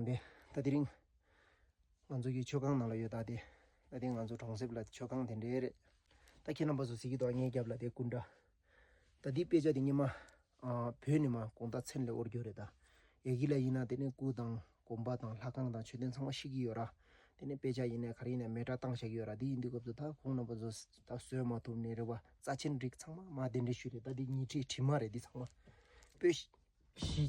འདི་ལྟ་དེ་རིང་ང་ཚོ་ཡི་མཆོད་ཁང་ནང་ལ་ཡོད་ད་དེ་ད་དེ་ང་ཚོ་གྲོང་གསེབ་ལ་མཆོད་ཁང་དེ་འདྲའི་རེད་ད་ཁྱེད་རྣམ་པ་ཚོ་གཟིགས་ཀྱི་འདུག་ངའི་རྒྱབ་ལ་དེ་སྐུ་འདྲ་ད་དེའི་དཔེ་ཆ་དེ་སྙེ་མ་བོད་ནས་མ་གོང་ད་ཚེན་ལས་དབོར་རྒྱུ་རེད་ད་ཡ་གི་ལ་ཡིན་ན་དེ་ནས་སྐུ་དང་གོམ་པ་དང་ལྷ་ཁང་དང་མཆོད་རྟེན་ཚང་མ་ཤིག་གི་ཡོད་ར་དེ་ནས་དཔེ་ཆ་ཡིན་ནས་ག་རེ་ཡིན་ན་མེ་དྲ་བཏང་བཞག་གི་ཡོད་ར་དེ་ཡིན་དུས་སྐབས་སུ་ད་ཁོང་རྣམ་པ་ཚོ་ད་བཟོས་མ་ཐུབ་ནས་རེད་བ་རྩ་ཆེན་རིགས་ཚང་མ་མ་དེ་འདྲའི་ཤུལ་རེད་ད་དེ་ཉིས་ཁྲི་ཁྲི་མ་རེད་འདི་ཚང་མ་པོད་བཞི།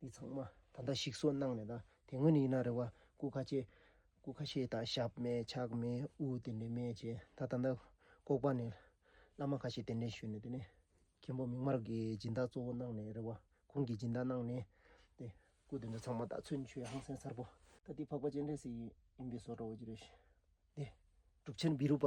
འདི་ཚང་མ་ད་ལྟ་ཞིག་གསོ་གནང་མེད་ད་དེ་སྔོན་ཡིན་ན་རེ་བ་སྐུ་ཁ་ཆེ། སྐུ་ཁ་ཤེས་དང་ཞབས་མེད་ཕྱག་མེད་དབུ་དེ་འདྲས་མེད་ཅེས་ད་ད་ལྟ་ལྐོག་པ་ནས་བླ་མ་ཁ་ཤས་དེ་འདྲས་ཞུས་ནས་དེ་ནས་མཁན་པོ་མིག་དམར་གྱི་སྦྱིན་བདག་གཙོ་བོ་གནང་ནས་རེ་བ་ཁོང་གིས་སྦྱིན་བདག་གནང་ནས་དེ་སྐུ་དེ་འདྲ་ཚང་མ་ད་ཚུན་ཆོད་ཧང་སེང་གསར་པོ། ད་འདི་འཕགས་པ་སྤྱན་རས་གཟིགས་ཡིན་པས་སོགས་རོ་བོ་རྗེ་རེད། དེ་གྲུབ་ཆེན་བི་རུ་པ།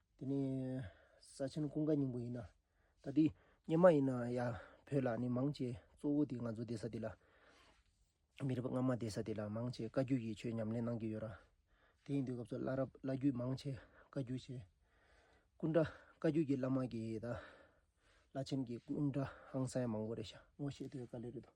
དེ་ནས་ས་ཆེན་ཀུན་དགའ་སྙིང་པོ་ཡིན། ད་དུས་སྙེ་མ་ཡིན་ན་ཡང་བོད་ལ་ནི་མང་ཆེ་གཙོ་བོ་དེ་ང་ཚོ་སྡེ་ས་དེ་ལ། མི་རབས་སྔ་མ་སྡེ་ས་དེ་ལ་མང་ཆེ་བཀའ་རྒྱུད་ཀྱི་ཆོས་ཉམས་ལེན་གནང་གི་ཡོད་ར། དེ་ཡིན་དུས་སྐབས་སུ་བླ་རབས་བླ་རྒྱུད་མང་ཆེ་བཀའ་རྒྱུད་བྱས། ཀུན་དགའ་བཀའ་རྒྱུད་ཀྱི་བླ་མ་གིས་དང། བླ་ཆེན་གྱི་ཀུན་དགའ་ཧང་སངས་མང་པོ་རེ་ཤ་ངོ་ཤེས་དུས་ག་ལེ་རེད་དོ།